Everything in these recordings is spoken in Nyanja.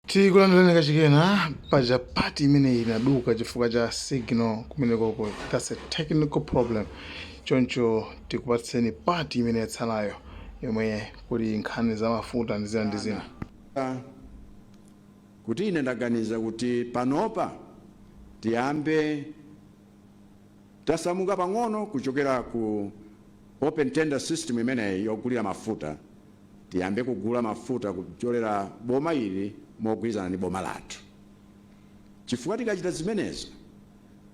Tikulandireni kachikenanso paja part imeneyi inaduka chifukwa cha signal kumenekoko that's a technical problem choncho tikupatseni part imene yatsalayo yomwe kuli nkhani za mafuta ndi zina ndi zina kuti ine ndaganiza kuti panopa tiyambe tasamuka pang'ono kuchokera ku open tender system imeneyi yogulira mafuta tiyambe kugula mafuta kudzela boma ili mogwilizana ndi boma lathu chifukwa tikachita zimenezo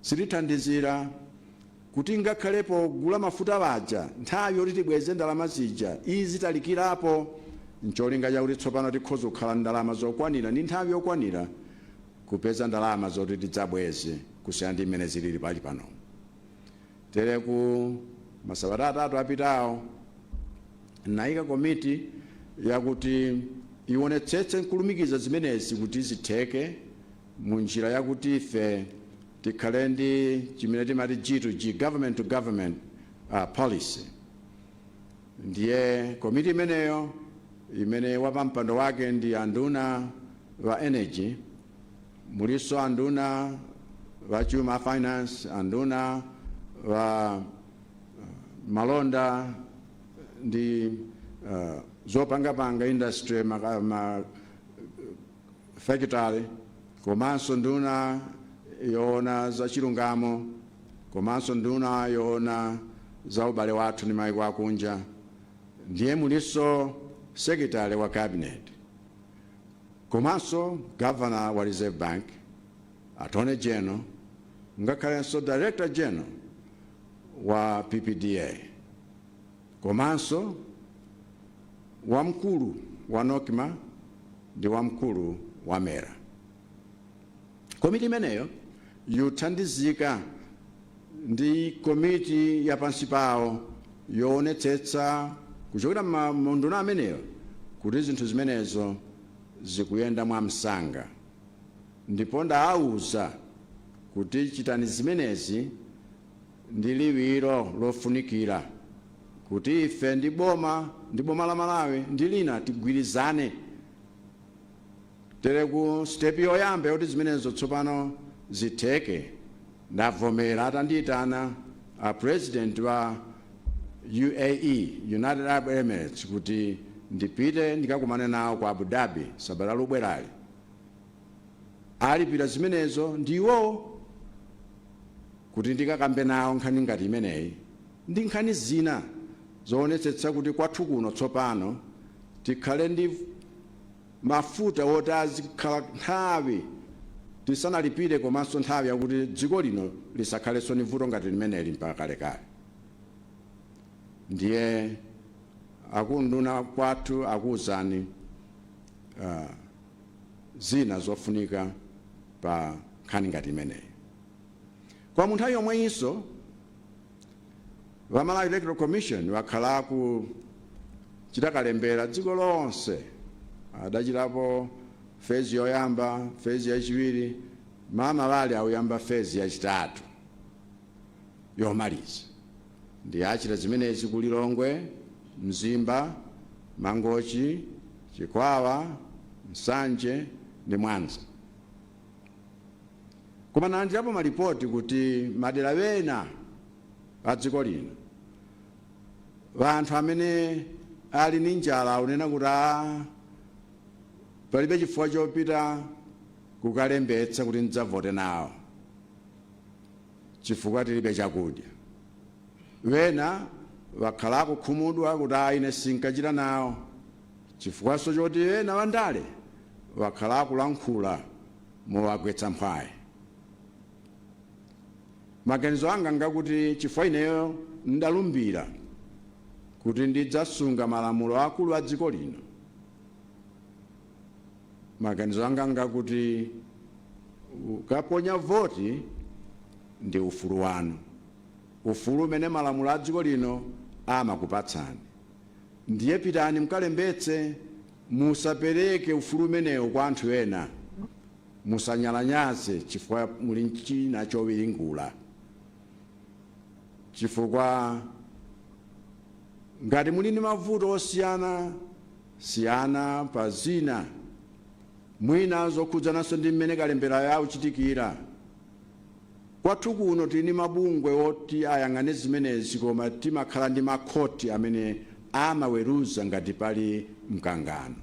zitithandizila kuti ngakhale pogula mafuta aja nthawi yoti tibweze ndalama zija izitalikilapo ncholinga chakuti tsopano tikhoza kukhala ndalama zokwanila ndi nthawi yokwanila kupeza ndalama zoti tidzabweze kusiyana ndi mmene zilili pali pano. Tereku, masabata atatu apitawo, nayika komiti yakuti iwonetsetse nkulumikiza zimenezi kuti zitheke mu njira yakuti ife tikhale ndi chimene timati G to G, Government to Government Policy. Ndiye komiti imeneyo imene wapampando wake ndi anduna wa Energy, mulinso anduna wa chuma finance anduna wa malonda ndi uh, zopangapanga industry ma, ma factory komanso nduna yoona za chilungamo komanso nduna yoona za ubale wathu ndi maiko akunja ndiye mulinso sekitale wa cabinet Komanso Governor wa Reserve Bank, Attorney General ngakhalenso Director General wa PPDA komanso wamkulu wa Nocma ndi wamkulu wa mera. Komiti imeneyo izithandizika ndi komiti ya pansi pawo yoonetsetsa kuchokera m'maunduna amenewa kuti zinthu zimenezo zikuyenda mwamsanga ndipo ndaauza kuti chitani zimenezi ndi liwiro lofunikira kuti ife ndi boma ndi boma la Malawi ndi lina tigwirizane Tereku step yoyamba yoti zimenezo tsopano zitheke ndavomera atandiitana a president wa UAE, United Arab Emirates, kuti ndipite ndikakumane nawo ku Abu Dhabi sabata likubwerali. Alipira zimenezo ndi iwowo kuti ndikakambe nawo nkhani ngati imeneyi ndi nkhani zina zoonetsetsa kuti kwathu kuno tsopano tikhale ndi mafuta woti azikhala nthawi tisanalipire komanso nthawi yakuti dziko lino lisakhalenso ndi vuto ngati limeneli mpaka kalekale. Ndiye a unduna kwathu akuwuzani uh, zina zofunika pa nkhani ngati imeneyi. Koma m'nthawi yomweyinso a Malawi Electoral Commission akhala akuchita kalembera dziko lonse adachitapo phase yoyamba phase yachiwiri mawa ali akuyamba phase yachitatu yomaliza ndiye achita zimenezi ku Lilongwe Mzimba Mangochi Chikwawa Nsanje ndi Mwanza Koma nalandirapo malipoti kuti madera ena a dziko lino anthu amene ali ndi njala akunena kuti a palibe chifukwa chopita kukalembetsa kuti ndidzavote nawo chifukwa tilibe chakudya. Ena akhala akukhumudwa kuti a ine sinkachita nawo. Chifukwanso choti ena andale akhala akulankhula mowagwetsa mphwayi. Maganizo anga ngakuti chifukwa ineyo ndalumbira kuti ndidzasunga malamulo akulu a dziko lino, maganizo anga ngakuti kukaponya voti ndi ufulu wanu, ufulu umene malamulo a dziko lino amakupatsani. Ndiye pitani mukalembetse. Musapereke ufulu umenewo kwa anthu ena. Musanyalanyaze chifukwa muli ndi china chowiringula, chifukwa ngati muli ndi mavuto osiyana siyana pa zina, mwina zokhudzananso ndi mmene kalemberayo akuchitikira, Kwathu kuno tili ndi mabungwe oti ayang'ane zimenezi koma timakhala ndi makhoti amene amaweruza ngati pali mkangano.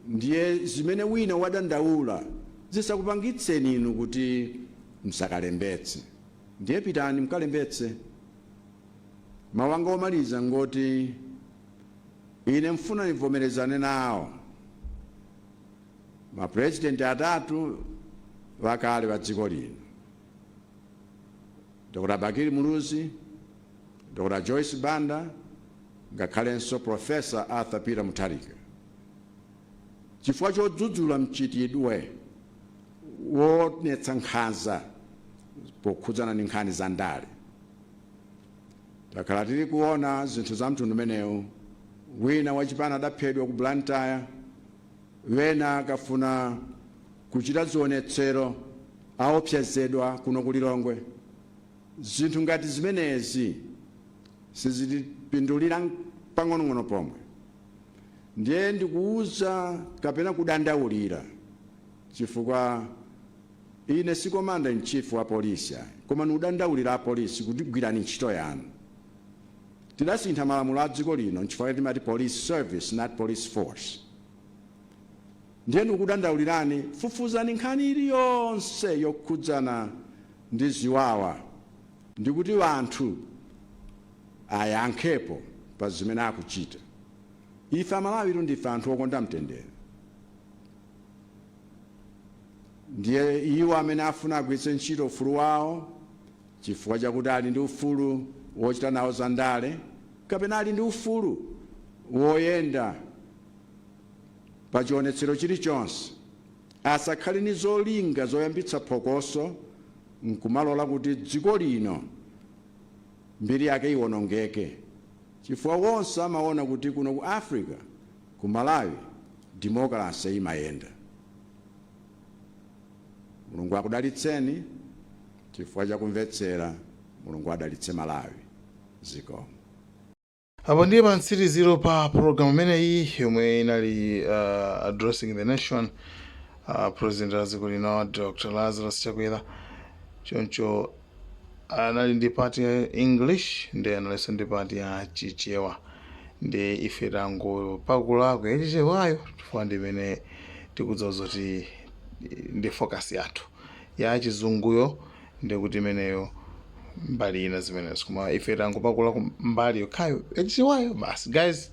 Ndiye zimene wina wadandaula zisakupangitseni inu kuti msakalembetse. Ndiye pitani mkalembetse. Mawu anga omaliza n'ngoti ine n'funa nivomerezane nawo. Ma president atatu wakale wa dziko lino, Dr. Bakili Muluzi, Dr. Joyce Banda ngakhalenso Prof. Arthur Peter Mutharika chifukwa chodzudzula mchitidwe woonetsa nkhanza pokhudzana ndi nkhani za ndale, takhala tili kuona zinthu za mtundu umenewu. Wina wachipani adaphedwa ku Blantyre, Wena akafuna kuchita zionetsero aopsezedwa kuno ku Lilongwe. Zinthu ngati zimenezi sizitipindulira pang'onong'ono pomwe. Ndiye ndikuuza kapena kudandaulira chifukwa ine si commander in chief wa police ayi koma ndikudandaulira a police kuti gwirani ntchito yanu. Tidasintha malamulo a dziko lino nchifukwa timati police service not police force ndiye ndikukudandaulirani fufuzani nkhani iliyonse yokhudzana ndi ziwawa ndikuti wanthu ayankhepo pa zimene akuchita. Ife Amalawitu ndife anthu okonda mtendere ndiye iwo amene afuna agwiritse ntchito ufulu wawo chifukwa chakuti ali ndi ufulu wochita nawo zandale kapena ali ndi ufulu woyenda pachionetsero chilichonse, asakhale ndi zolinga zoyambitsa phokoso n'kumalola kuti dziko lino mbiri yake iwonongeke, chifukwa wonse amaona kuti kuno ku Africa, ku Malawi, demokalase imayenda. Mulungu akudalitseni chifukwa chakumvetsera mulungu adalitse Malawi zikomo. Apo ndiye pa mtsiriziro pa program imeneyi yomwe inali uh, addressing the nation uh, president wa dziko lino Dr. Lazarus Chakwera choncho anali ndi part ya English ndiye analinso ndi part ya Chichewa ndi ife tangopakulako ya Chichewayo chifukwa ndi imene tikudziwa zoti eh, ndi focus yathu ya Chizunguyo ndi kuti imeneyo mbali ina zimenezo koma ife tangopakulako mbali yokhayo ya Chichewayo basi guys